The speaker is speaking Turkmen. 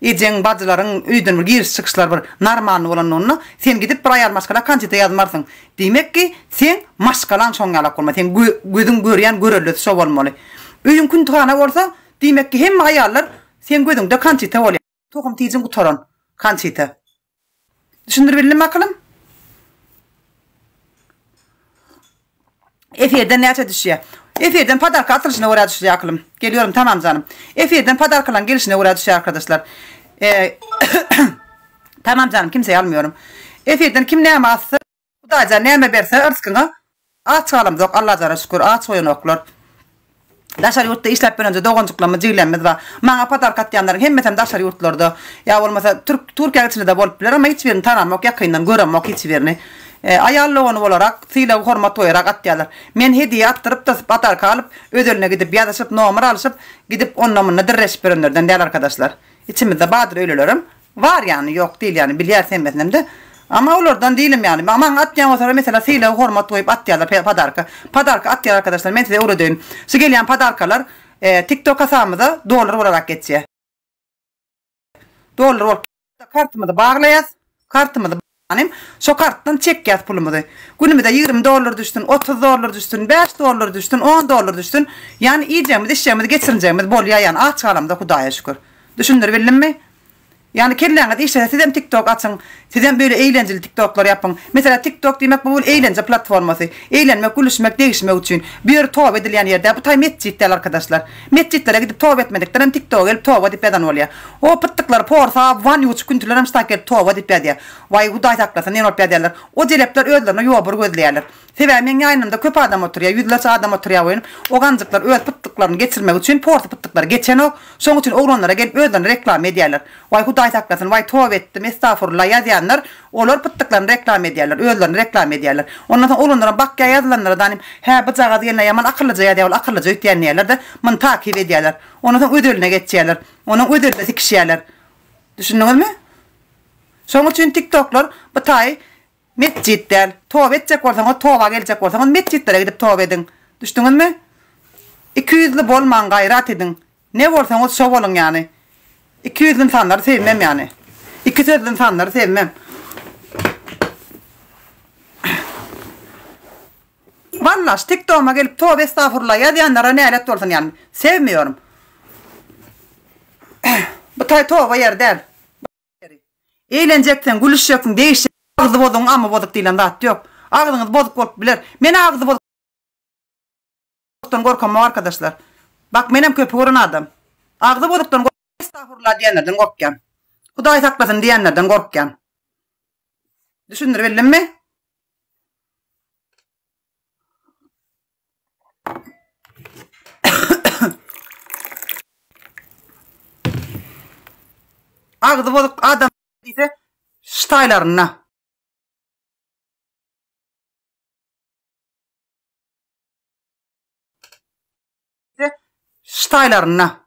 Ejeň, bajylaryň öýden bir giriş-çykyşlary bir normalny bolanlygynda, sen gidip bir aýal maşgala konçete ýazmarsyň. Diýmek ki, seň maşgalaň şoň ýalak bolmaly, seň gözüň görýän görellesi şo bolmaly. Öýüň küntühana bolsa, diýmek ki, hemme aýallar seň gözüňde konçete bolýar. Tohum-tijin gutaran konçete. Düşündir bildim akylym? Efirden näçe düşýä? Efirden podarka atylyşyna görä düşýä akylym. Gelýorim tamam janym. Efirden podarkalaň gelişine görä düşýä arkadyşlar. Eee Tamam janym kimseýi almýorym. Efirden kim näme atsa Hudaýjan näme berse yrskyňa aç galamzok Allajana şükür aç goýanoklar Daşary ýurtda işläp bilenje doganjyklarymyz jigilerimiz bar maňa podarka atýanlaryň hemmesem daşary ýurtlarda ýa bolmasa türk Türkiýäň içindede bolup biler emma hiç birini tanamok ýakyndan göremok hiç birini aýal dogany bolarak sylag hormat goýarak atýarlar men hediýe atdyrypda podarka alyp özeline gidip ýazyşyp nomer alyşyp gidip onda munda dirreşip ýörenlerden däl arkadaşlar içimizde bardyr öýlelerem Bar ýany, ýok dil ýany, bilýäris hemmesinem-de. Emma olardan dilim ýany, maňa maňa atýan bolsalar, meselem, sylag, hormat goýup atýarlar pe, podarka. Podarka atýar arkadaşlar, men size öwredeýin. Şu gelýän podarkalar e, TikTok hasabymyza dollar bolarak geçýär. Dollar bolup. Kartymyzy baglaýas. Kartymyzy. Hanym, şo kartdan çekýas pulumyzy. Günümize ýigrimi dollar düşsün, otuz dollar düşsün, bäş dollar düşsün, on dollar düşsün, ýany iýjegimiz, içjegimiz, geçirinjegimiz bolýa ýany aç galamyza Hudaýa şükür. Düşündiribildimmi? Ýany kelläňiz işlese sizem tiktok açyň, sizem beýle eýlenjili tiktoklar ýapyň. Meselä tiktok diýmek bu bir eýlenje platformasy. Eýlenmek, gülüşmek, degişmek üçin. Bu ýeri toba edilýän ýer däl, bu taý metjit däl arkadaşlar. Metjitlere gidip toba etmedikdirem tiktoga gelip toba dip ýazan bolýa. O pytdyklary porsa, wan ýuwçy küntülerem ştak gelip toba dip ýazýa. Waý hudaý saklasyn ýene bolup ýazýalar. O jelepler özlerine ýobur gözleýäler. Sebäbi meň ýaýnymda köp adam oturýa, ýüzlerçe adam oturýa welin o ganjyklar öz pytdyklaryny geçirmek üçin porsy pytdyklary geçenok, şoň üçin oglanlara gelip özlerini reklama edýäler. Waý hudaý saklasyn, waý toba etdim, estagfurulla ýazýanlar, Olar pytdyklaryny reklama edýärler, özlerini reklama edýärler. Ondan soň oglanlaram bakýar ýazylanlara danym, Hä, bu jagaz gelneý ýaman akyllyja ýazýar, ol akyllyja öýtýän diýýärler-de, muny takyp edýärler. Ondan soň öz eline geçýärler. Onuň öz elinde sikişýärler. Düşündiňizmi? Şonuň üçin tiktoklar bu taýy metjit däl. Toba etjek bolsaňyz, toba geljek bolsaňyz, metjitlere gidip toba ediň. Düşdüňizmi? Ikiýüzli bolmaň, gaýrat ediň. Ne bolsaňyz şo boluň ýany. Iki ýüzli ynsanlary sevmem ýany. Iki sözli ynsanlary sevmem. Walla şu tiktoguma gelip tobe estafurla ýazýanlara nälet bolsun ýany. Sevmiyorum. Bu taý toba ýeri däl. Eýlenjeksen, gülüşjeksin, degişjeksin. Agzy bozugyň amy bozuk diýlen zat ýok. Agzyňyz bozuk bolup biler. Men agzy bozuk. Bozukdan gorkamok arkadaşlar. Bak menem köpi gören adam. Agzy bozukdan estagfurullah diýenlerden gorkýan. Hudaý saklasyn diýenlerden gorkýan. Düşündirip bildimmi? Agzy bozuk adam diýse ştaýlaryna. Ştaýlarynda.